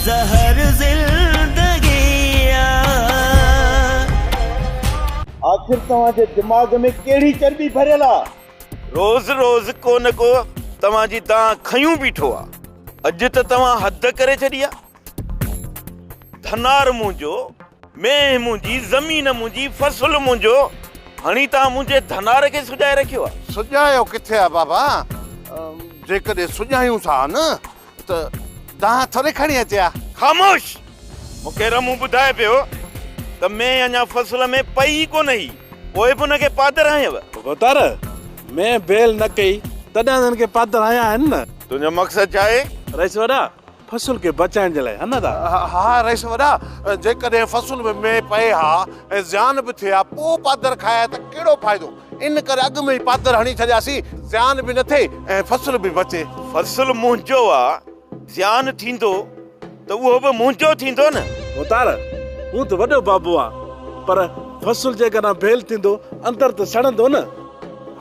زهر زندگيء آخر توهان جي دماغ ۾ ڪهڙي چرٻي ڀريل آ. روز روز ڪو نه ڪو توهان جي دانهن کنيون بيٺو آ. اڄ ته توهان حد ڪري ڇڏي آ. ڌنار منهنجو، مينهن منهنجي، زمين منهنجي، فصل منهنجو، هڻي توهان منهنجي ڌنار کي سڄائي رکيو آ. سڄايو ڪٿي آ بابا، جيڪڏهن سڄايون ٿا نه ته دانهن ٿوري کڻي اچي ها. خاموش! مون کي رمون ٻڌائي پيو ته مينهن اڃا فصل ۾ پئي ئي ڪونه هئي، پوء به ان کي پادر هنيو؟ ڀوتار! مينهن بيل نه ڪئي، تڏهن هن کي پادر هنيا آهن نه. تنهنجو مقصد ڇا آهي؟ رئيس وڏا! فصل کي بچائڻ جي لاء، هن ته. ها رئيس وڏا! جيڪڏهن فصل ۾ مينهن پئي ها ۽ زيان به ٿئي ها، پوء پادر کائي ها ته ڪهڙو فائدو؟ ان ڪري اڳ ۾ ئي پاتر هڻي ڇڏياسين، زيان به نه ٿئي ۽ فصل به بچي. فصل منهنجو آ، زيان ٿيندو ته اهو به منهنجو ٿيندو نه. اوتار، هو ته وڏو بابو آ، پر فصل جيڪڏهن ڀيل ٿيندو اندر ته سڙندو نه.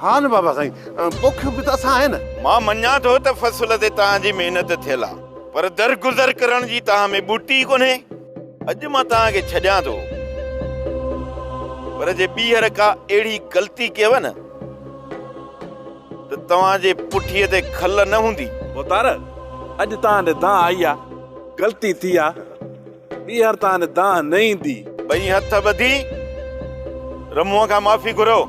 ها نه بابا سائين، پوکيون به ته اسان آهي نه. مان مڃان ٿو ته فصل تي توهان جي محنت ٿيل آ، پر درگذر ڪرڻ جي توهان ۾ ٻوٽي ئي ڪونهي. اڄ مان توهان کي ڇڏيان ٿو، پر جي ٻيهر ڪا اهڙي غلطي ڪيوه نه ته توهان جي پٺيء تي کل نه هوندي. ڀوتار، اڄ توهان ڏي دانهن آئي آ، غلطي ٿي آ، ٻيهر توهان ڏي دانهن نه ايندي. ٻئي هٿ ٻڌي رمونء کان معافي گهريو.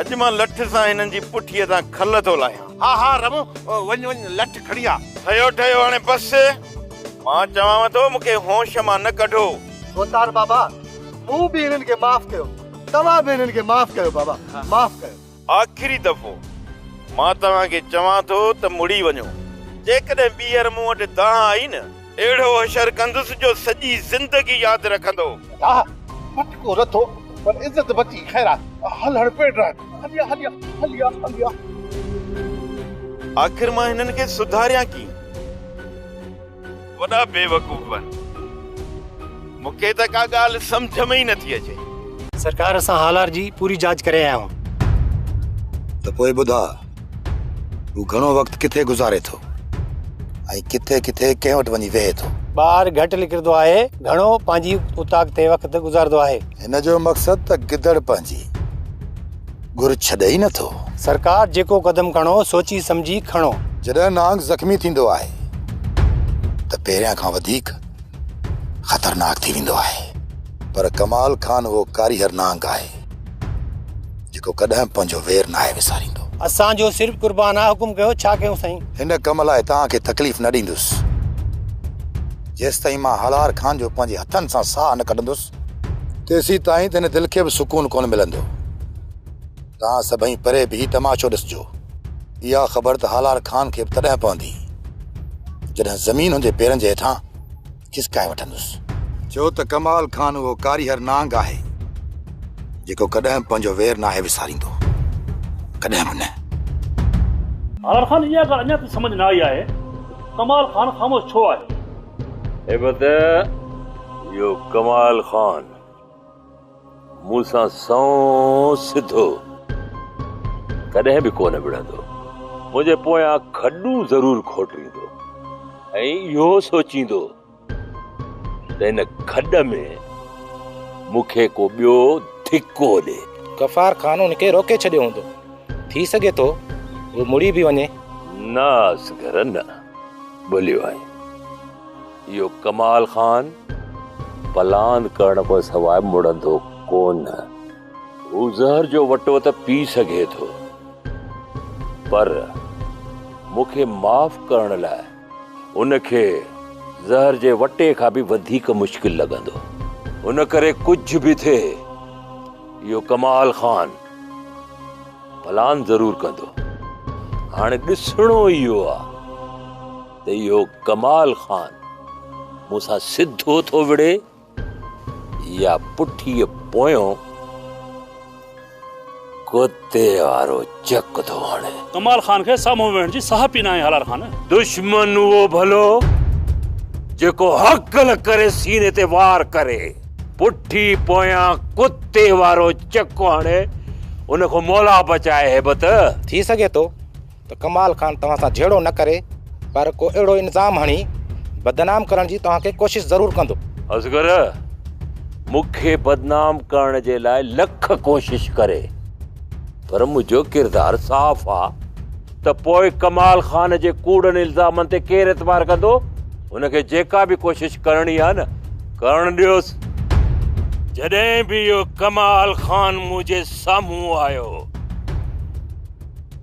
اڄ مان لٺ سان هنن جي پٺيء تان کل ٿو لاهيان. ها ها رمو وڃ وڃ لٺ کڻي آ. ٺهيو ٺهيو هاڻي بس. مان چوانو ٿو مون کي هوش مان نه ڪڍو. ڀوتار بابا مون به هنن کي معاف ڪيو توهان به هنن کي معاف ڪيو بابا معاف ڪيو. آخري دفعو مان توهان کي چوان ٿو ته مڙي وڃو. جيڪڏهن ٻيهر مون وٽ دانهن آئي نه. اهڙو حشر ڪندس جو سڄي زندگي ياد رکندو. ڊاهه مٽ ڪو رٿو پر عزت بچي خيرات. هل هڻ پيڊ رهه هليا هليا هليا هليا. آخر مان هنن کي سڌاريان ڪيئن. وڏا بيوقوف هن مون کي ته ڪا ڳالهه سمجهه ۾ ئي نٿي اچي. سرڪار اسان هالار جي پوري جاچ ڪري آيا آهيون. ته پوء ٻڌاء. هو گهڻو وقت ڪٿي گذاري ٿو ۽ ڪٿي ڪٿي ڪنهن وٽ وڃي ويهي ٿو؟ ٻار گهٽ نڪرندو آهي، گهڻو پنهنجي اوطاق تي وقت گذارندو آهي. هن جو مقصد ته گدڙ پنهنجي گهر ڇڏي ئي نٿو. سرڪار جيڪو قدم کڻو سوچي سمجهي کڻو. جڏهن نانگ زخمي ٿيندو آهي ته پهريان کان وڌيڪ خطرناڪ ٿي ويندو آهي. پر ڪمال خان اهو ڪاريهر نانگ آهي. جيڪو ڪڏهن پنهنجو وير ناهي وساريندو. اسان جو سر قربان آ حڪم ڪيو ڇا ڪيون سائين. هن ڪم لاء توهان کي تڪليف نه ڏيندس جيستائين مان هلار خان جو پنهنجي هٿن سان ساهه نه ڪڍندس. تيسين تائين ته هن دل کي به سڪون ڪونه ملندو. توهان سڀئي پري بيهي تماشو ڏسجو. اها خبر ته هالار خان کي به تڏهن پوندي جڏهن زمين هن جي پيرن جي هيٺان. چسڪائي وٺندس. ڇو ته ڪمال خان اهو ڪاريهر نانگ آهي، جيڪو ڪڏهن به پنهنجو وير ناهي وساريندو. ڪڏهن به نه. هاران خان، اها ڳالهه اڃا تائين سمجهه نه آئي آهي، ڪمال خان خاموش ڇو آهي؟ هيبت، اهو ڪمال خان. مون سان سنئون سڌو ڪڏهن به ڪونه وڙهندو، منهنجي پويان کڏون ضرور کوٽيندو ۽ اهو سوچيندو ته هن کڏ ۾ مون کي ڪو ٻيو ڌڪو ڏي. غفار خان هن کي روڪي ڇڏيو هوندو، ٿي سگهي ٿو هو مڙي به وڃي. نه اصغر نه، ڀليو آهين. اهو ڪمال خان پلان ڪرڻ کان سواء مڙندو ڪونه. هو زهر جو وٽو ته پي سگهي ٿو پر مون کي معاف ڪرڻ لاء ان کي زهر جي وٽي کان به وڌيڪ مشڪل لڳندو. ان ڪري ڪجهه به ٿئي اهو ڪمال خان پلان ضرور ڪندو. هاڻي ڏسڻو اهو آهي. ته اهو ڪمال خان مون سان سڌو ٿو وڙهي يا پٺيء پويان ڪتي وارو چڪ ٿو هڻي. ڪمال خان کي سامهون ويهڻ جي ساهپ ئي ناهي هالار خان. دشمن اهو ڀلو جيڪو هڪل ڪري سيني تي وار ڪري پٺي پويان ڪتي وارو چڪ هڻي ان کان مولا بچائي هيبت. ٿي سگهي ٿو ته ڪمال خان توهان سان جهيڙو نه ڪري پر ڪو اهڙو الزام هڻي بدنام ڪرڻ جي توهان کي ڪوشش ضرور ڪندو. اصغر، مون کي بدنام ڪرڻ جي لاء لک ڪوشش ڪري پر منهنجو ڪردار صاف آ ته پوء ڪمال خان جي ڪوڙن الزامن تي ڪير اعتبار ڪندو؟ هن کي جيڪا به ڪوشش ڪرڻي آ نه ڪرڻ ڏيوس. جڏهن به اهو ڪمال خان منهنجي سامهون آيو.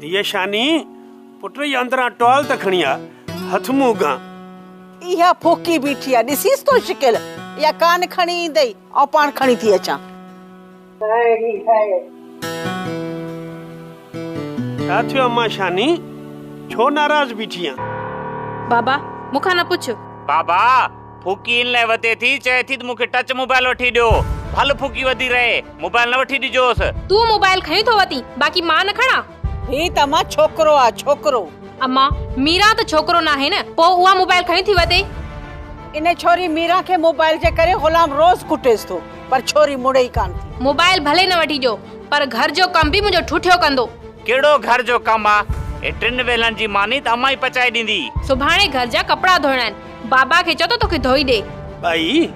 ڌيء شاني، پٽ اي اندران ٽوال ته کڻي آ، هٿ منهن گان. اها ڦوڪي بيٺي آ، ڏسيس تو شڪل، اها ڪانه کڻي ايندئي، آئون پاڻ کڻي ٿي اچان. ڇا ٿيو امان شاني، ڇو ناراض بيٺي آن؟ بابا، مون کان نه پڇ. بابا، ڦوڪي ان لاء وتي ٿي، چئي ٿي ته مون کي ٽچ موبائل وٺي ڏيو. ڀل ڦوڪي وڌي رهي، موبائل نه وٺي ڏجوس. تون موبائل کڻي ٿو وتين، باقي مان نه کڻان؟ هي ته امان ڇوڪرو آ، ڇوڪرو. امان، ميران ته ڇوڪرو ناهي نه، پوء اها موبائل کڻي ٿي وتي؟ ان ڇوري ميران کي موبائل جي ڪري غلام روز ڪٽيس ٿو، پر ڇوري مڙي ئي ڪانه ٿي. موبائل ڀلي نه وٺي ڏيو، پر گهر جو ڪم به منهنجو ٺٺيو ڪندو. ڪهڙو گهر جو ڪم آ؟ اهي ٽن ويلن جي ماني ته امان ئي پچائي ڏيندي. سڀاڻي گهر جا ڪپڙا ڌوئڻا آهن. بابا کي چئو ته توکي ڌوئي ڏي. ٻائي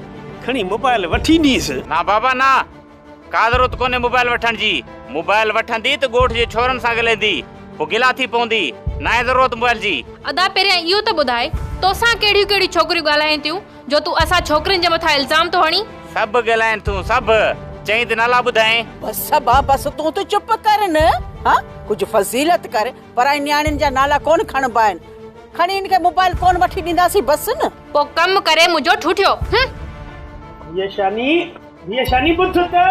کڻي موبائل وٺي ڏينس. نا بابا نا. ڪا ضرورت ڪونهي موبائل وٺڻ جي. موبائل وٺندي ته ڳوٺ جي ڇورن سان ڳلهيندي. پوء گلا ٿي پوندي. ناهي ضرورت موبائل جي. ادا پهريان اهو ته ٻڌاء توسان ڪهڙيون ڪهڙيون ڇوڪريون ڳالهائين ٿيون جو تون اسان ڇوڪرين جي مٿان الزام ٿو هڻين. سڀ ڳالهائين ٿيون سڀ. چئين ته نالا ٻڌائين. بس بابا بس تون ته چپ ڪر نه. ها ڪجهه فضيلت ڪر. پرائين نياڻين جا نالا ڪون کڻبا آهن. کڻي هن کي موبائل ڪون وٺي ڏينداسين بس نه. پو ڪم ڪري منهنجو ٺوٺيو هم. ڌيء شاني ڌيء شاني ٻڌ ته.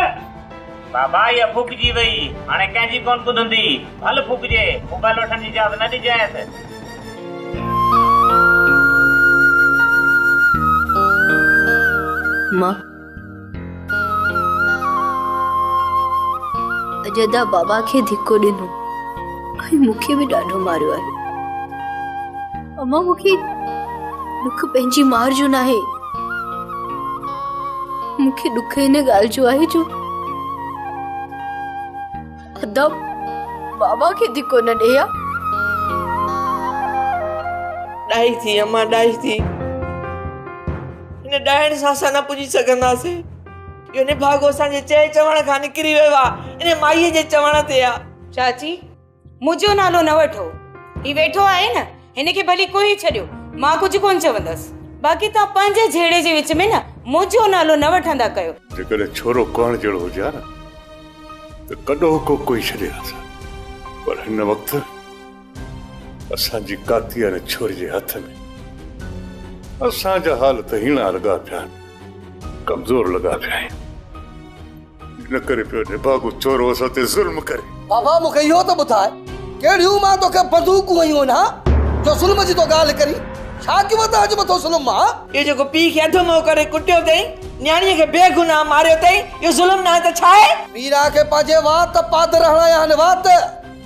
بابا اها ڦوڪجي وئي هاڻي ڪنهن جي ڪون ٻڌندي ڀل ڦوڪجي موبائل وٺڻ جي اجازت نه ڏجانئس. مان. اڄ ادا بابا کي ڌڪو ڏنو ۽ مون کي به ڏاڍو ماريو آهي اما مون کي ڏک پنهنجي مار جو ناهي مون کي ڏک ان ڳالهه جو آهي جو ادب بابا کي ڌڪو نه ڏي ها. ڏاهي ٿي امان ڏاهي ٿي هن ڏاهڻ سان اسان نه پڄي سگهنداسين اهو نڀاڳو اسان جي چئي چوڻ کان نڪري ويو آ ان مائي جي چوڻ تي آ چاچي منهنجو نالو نه وٺو هي ويٺو آهي نه هن کي ڀلي ڪوهي ڇڏيو، مان ڪجهه ڪونه چوندس. باقي توهان پنهنجي جهيڙي جي وچ ۾ نه منهنجو نالو نه وٺندا ڪيو. جيڪڏهن ڇورو ڪهڻ جهڙو هجي ها نه ته ڪڏهو ڪو ڪوهي ڇڏي ها سان. پر هن وقت اسان جي ڪاتي واري ڇوري جي هٿ ۾. اسان جا حال ته هيڻا لڳا پيا آهن، ڪمزور لڳا پيا آهيون. ان ڪري پيو نڀاڳو چورو اسان تي ظلم ڪري. بابا مون کي اهو ته ٻڌاء ڪهڙيون مان توکي بندوقون هنيون آهن ها؟ جو ظلم جي تو ڳالهه ڪرين. ڇا ڪيو اٿئي اڄ مٿو ظلم مان ها؟ اهو جيڪو پيء کي اڌ منهن ڪري ڪٽيو اٿئي، نياڻيء کي بي گناهه ماريو اٿئي، اهو ظلم ناهي ته ڇا آهي؟ ميرا کي پنهنجي وات پادر هڻايا آهن وات.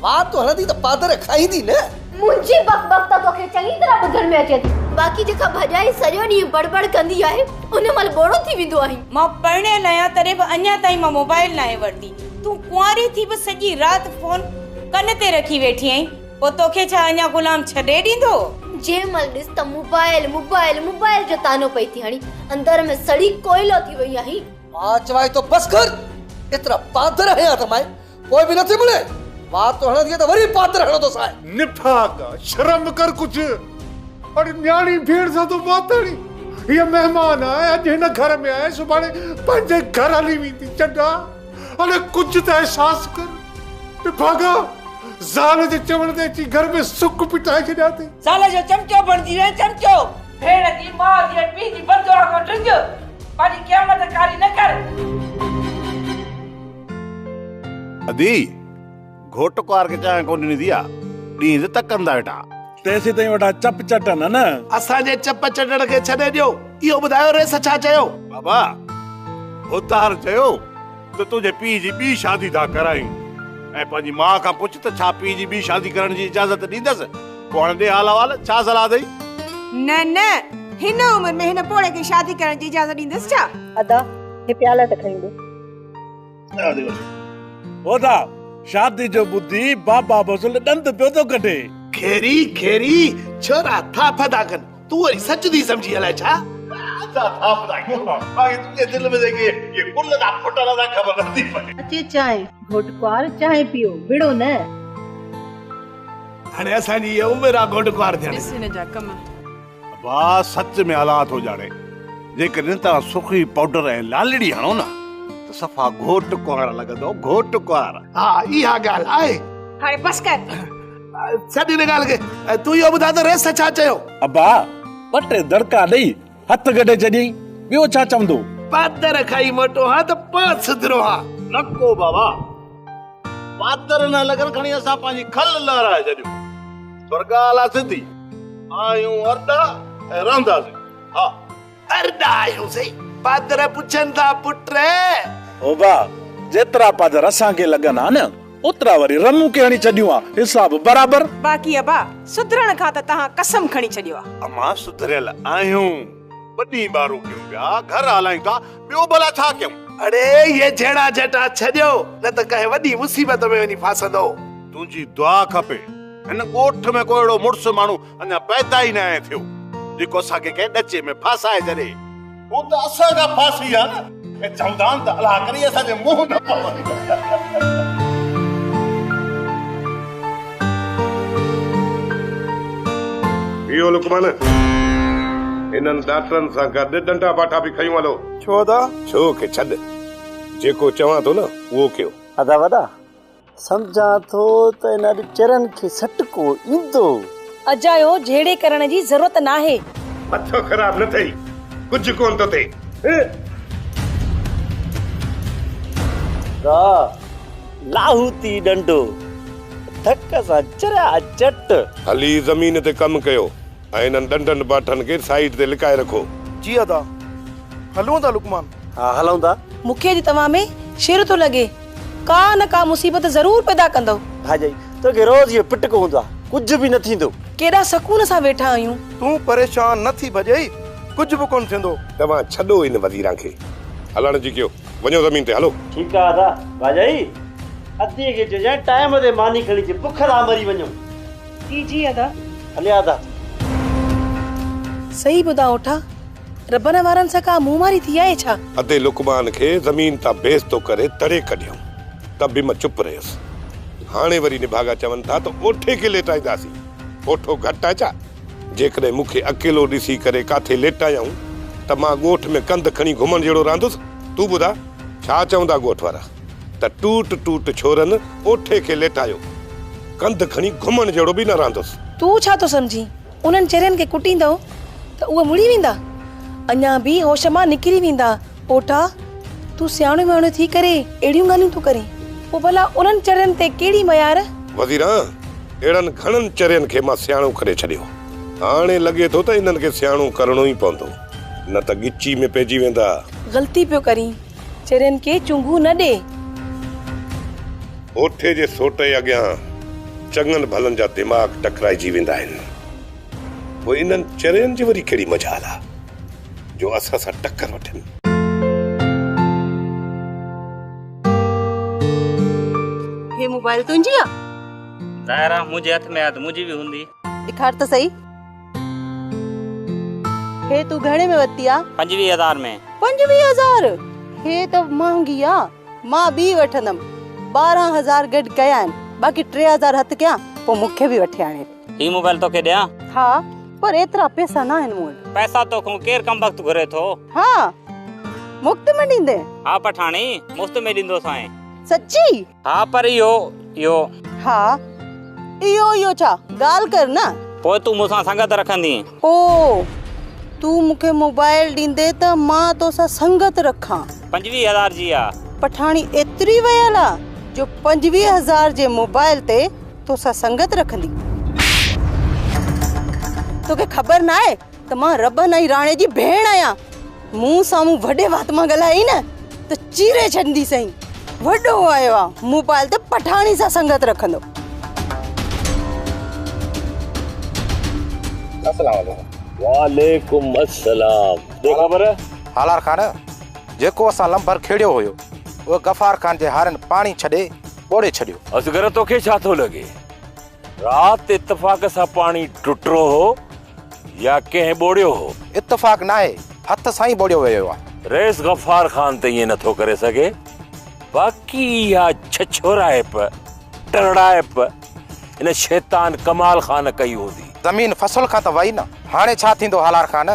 وات تون هڻندي ته پادر کائيندي نه. منهنجي بڪ بڪ ته توکي چڱي طرح ٻڌڻ ۾ اچي ٿي. باقي جيڪا ڀڄائي سڄو ڏينهن بڙ بڙ ڪندي آهي، ان مهل ٻوڙو ٿي ويندو آهين. مان پرڻيل آهيان تڏهن به اڃا تائين مان موبائيل ناهي ورتي. تون ڪنواري ٿي به سڄي رات فون ڪن تي رکي ويٺي آهين. پوء توکي ڇا اڃا غلام ڇڏي ڏيندو؟ جنهن مهل ڏس ته موبائيل موبائيل موبائيل جو طعنو پئي ٿي هڻين. اندر ۾ سڙي ڪوئلو ٿي وئي آهين. مان چوائين ٿو بس ڪر. ايترا پادر هنيا اٿم آء پوء به نٿي مڙي. وات تو هڻندينء ته وري پاتر هڻندو سانء. نفاق! شرم ڪر ڪجهه. اڙي نياڻي ڀيڻ سان ٿو وات هڻين. هيء مهمان آهي، اڄ هن گهر ۾ آهي، سڀاڻي پنهنجي گهر هلي ويندي. چنڊا! اڙي ڪجهه ته احساس ڪر. نڀاڳا! زال جي چوڻ تي اچي گهر ۾ سڪ پٽائي ڇڏيان ٿي. زال جو چمچو بڻجي وئين، چمچو! ڀيڻ جي، ماء جي ۽ پيء جي بددعا کان ڊڄ. پنهنجي قيامت ڪاري نه ڪر. ادي، گهوٽ ڪنوار کي چانهه ڪونه ڏني ٿي آ، ڏينهن جو تڪن ٿا ويٺا. تيسين تائين ويٺا چپ چٽن ها نه. اسان جي چپ چٽڻ کي ڇڏي ڏيو، اهو ٻڌايو ريس ڇا چيو؟ بابا، هوتار چيو ته تنهنجي پيء جي ٻي شادي ٿا ڪرايون ۽ پنهنجي ماء کان پڇ ته ڇا پيء جي ٻي شادي ڪرڻ جي اجازت ڏيندس، پوء هاڻي ڏي حال احوال، ڇا صلاح اٿئي؟ نه نه، هن عمر ۾ هن پوڙهي کي شادي ڪرڻ جي اجازت ڏيندس ڇا؟ ادا، هي پيالا ته کڻي ڏي. هودا شادي جو ٻڌي بابا بزل ڏند پيو ٿو ڪڍي کيري کيري ڇورا ٿاڦ ٿا ڪن تون وري سچ ٿي سمجهي الائي ڇا اچي چانهه گهوٽ ڪوار چانهه پيو وڙهو نه هاڻي اسان جي اهي عمر آ گهوٽ ڪوار ٿيڻ جي ڀاء سچ ۾ الله ٿو ڄاڻي جيڪڏهن توهان سرخي پائوڊر ۽ لالڙي هڻو نه ته صفا گهوٽ ڪنوار لڳندو گهوٽ ڪنوار. ها اها ڳالهه آهي. هاڻي بس ڪر. ڇڏ ان ڳالهه کي ۽ تون اهو ٻڌاء ته ريس ڇا چيو؟ ابا ٻه ٽي دڙڪا ڏئي هٿ ڪڍي ڇڏيائين ٻيو ڇا چوندو. پاتر کائي موٽو هان ته پاء سڌرو هان. نڪو بابا. پاتر نه لڳن کڻي اسان پنهنجي کل لهرائي ڇڏيون پر ڳالهه آ سڌي آهيون ارڏا ۽ رهنداسين ها ارڏا آهيون سي پادر پڇن ٿا پٽ هو ڀا جيترا پادر اسان کي لڳن ها نه اوترا وري رنون کي هڻي ڇڏيون ها حساب برابر. باقي ابا سڌرڻ کان ته تهان قسم کڻي ڇڏيو آ. امان سڌريل آهيون. ٻه ڏينهن ٻارو ڪيون پيا، گهر هالايون ٿا، ٻيو ڀلا ڇا ڪيون؟ اڙي اهي جهيڙا جهٽا ڇڏيو، نه ته ڪنهن وڏي مصيبت ۾ وڃي ڦاسندو. تنهنجي دعا کپي. هن ڳوٺ ۾ ڪو اهڙو مڙس ماڻهو اڃا پيدا ئي ناهي ٿيو، جيڪو اسان کي ڪنهن ڏچي ۾ ڦاسائي ڇڏي. هو ته اسان کان ڦاسي ويا نه. ڪي چوندان ته الاهه ڪري اسان جي منهن نه پوندي. اهو لقمان انهن ڊاڪٽرن سان گڏ ڏنڊا باٺا به کنيون هلو. ڇو ادا؟ ڇو ڪي ڇڏ جيڪو چوان ٿو نه اهو ڪيو. ادا وڏا. سمجهان ٿو ته ان اڄ چرن کي سٽڪو ايندو. اجايو جهيڙي ڪرڻ جي ضرورت ناهي. مٿو خراب نه ٿئي ڪجهه ڪون ٿو ٿئي. دا لاهوتي ڏنڊو ڌڪ سان چريا چٽ. هلي زمين تي ڪم ڪيو ۽ انهن ڏنڊن باٺن کي سائيڊ تي لڪائي رکو. جي ادا هلون ٿا لقمان. ها هلون ٿا. مونکي اڄ توهان ۾ شر ٿو لڳي. ڪا نه ڪا مصيبت ضرور پيدا ڪندؤ. ڀاڄائي، توکي روز اهو پٽڪ هوندو آهي، ڪجهه به نه ٿيندو. ڪيڏا سڪون سان ويٺا آهيون. تون پريشان نه ٿي ڀڄائي، ڪجهه به ڪونه ٿيندو. توهان ڇڏو ان وزيران کي. هلڻ جي ڪيو، وڃو زمين تي هلو. ٺيڪ آهي ادا. ڀاڄائي، ادي کي چئجانء ٽائيم تي ماني کڻي اچي، بک ٿا مري وڃون. جي جي ادا. هليا ادا. صحيح ٻڌاء اوٺا. ربنا وارن سان ڪا منهن ماري ٿي آهي ڇا؟ ادي لقمان کي زمين تان بيستو ڪري تڙي ڪڍيائون ته به مان چپ رهيس. هاڻي وري نڀاڳا چون ٿا ته اوٺي کي ليٽائينداسين. اوٺو گهٽ آهي ڇا؟ جيڪڏهن مون کي اڪيلو ڏسي ڪري ڪاٿي ليٽايائون ته مان ڳوٺ ۾ ڪنڌ کڻي گهمڻ جهڙو رهندس؟ تون ٻڌاء ڇا چوندا ڳوٺ وارا ته ٽوٽ ٽوٽ ڇورن اوٺي کي ليٽايو. ڪنڌ کڻي گهمڻ جهڙو به نه رهندس. تون ڇا ٿو سمجهين؟ انهن چرين کي ڪٽيندؤ ته اهي مڙي ويندا، اڃا به هوش مان نڪري ويندا. پوٽا، تون سياڻو وياڻو ٿي ڪري اهڙيون ڳالهيون ٿو ڪرين، پوء ڀلا انهن چرين تي ڪهڙي ميار؟ وزيران، اهڙن گهڻن چرين کي مان سياڻو ڪري ڇڏيو. هاڻي لڳي ٿو ته انهن کي سياڻو ڪرڻو ئي پوندو، نه ته ڳچي ۾ پئجي ويندا. غلطي پيو ڪرين. چرين کي چونگون نه ڏي. هوٿي جي سوٽي اڳيان چڱن ڀلن جا دماغ ٽڪرائجي ويندا آهن. پوء انهن چرين جي وري ڪهڙي مجال آ جو اسان سان ٽڪر وٺن. هي موبائل تنهنجي آ؟ ظاهر آ منهنجي هٿ ۾ آ ته منهنجي به هوندي. ڏيکار ته سهي. هي تون گهڻي ۾ ورتي آ؟ پنجويهه هزار ۾. پنجويهه هزار! هي ته مهانگي آ. مان ٻي وٺندم. ٻارهن هزار گڏ ڪيا آهن. باقي ٽي هزار هٿ ڪيان، پوء مون کي به وٺي آڻي. هي موبائل توکي ڏيان؟ ها، پر ايترا پئسا ناهن مون وٽ. پئسا توکون ڪير ڪمبخت گهري ٿو؟ ها، مفت ۾ ڏيندين؟ ها پٺاڻي، مفت ۾ ڏيندوسانء. سچي؟ ها پر اهو اهو. ها اهو اهو ڇا؟ ڳالهه ڪر نه. پوء تون مون سان سنگت رکندين. او! تون مون کي موبائل ڏيندين ته مان تو سان سنگت رکان. پنجويهه هزار جي آ. پٺاڻي ايتري ويل آ جو پنجويهه هزار جي موبائل تي تو سان سنگت رکندي. توکي خبر ناهي ته مان ربن ۽ راڻي جي ڀيڻ آهيان مون سامهون وڏي وات مان ڳالهائي نه ته چيري ڇڏندي سائين وڏو آيو آ موبائل ته پٺاڻي سان سنگت رکندو السلام عليڪم وعليڪم السلام بي خبر هالار خان جيڪو اسان لمبر کيڙيو هيو اهو غفار خان جي هارن پاڻي ڇڏي ٻوڙي ڇڏيو اصغر توکي ڇا ٿو لڳي رات اتفاق سان پاڻي ٽٽرو هو يا ڪنهن ٻوڙيو هو؟ اتفاق ناهي، هٿ سان ئي ٻوڙيو ويو آهي. رئيس غفار خان ته ائين نٿو ڪري سگهي، باقي اها ڇڇورائپ، ٽرڙائپ ان شيطان ڪمال خان ڪئي هوندي. زمين فصل کان ته وئي نه، هاڻي ڇا ٿيندو هالار خان؟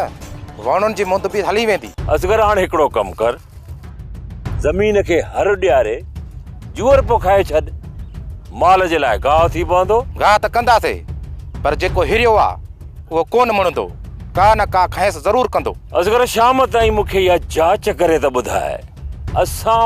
وهڻن جي مند به هلي ويندي. اصغر هاڻ هڪڙو ڪم ڪر. زمين کي هر ڏياري جوئر پوکائي ڇڏ، مال جي لاء گاهه ٿي پوندو. گاهه ته ڪنداسي، پر جيڪو هريو آ، اهو ڪو نه مڻندو، ڪا نه ڪا کانئس ضرور ڪندو. اصغر شام تائين مون کي اها جاچ ڪري ته ٻڌاء، اسان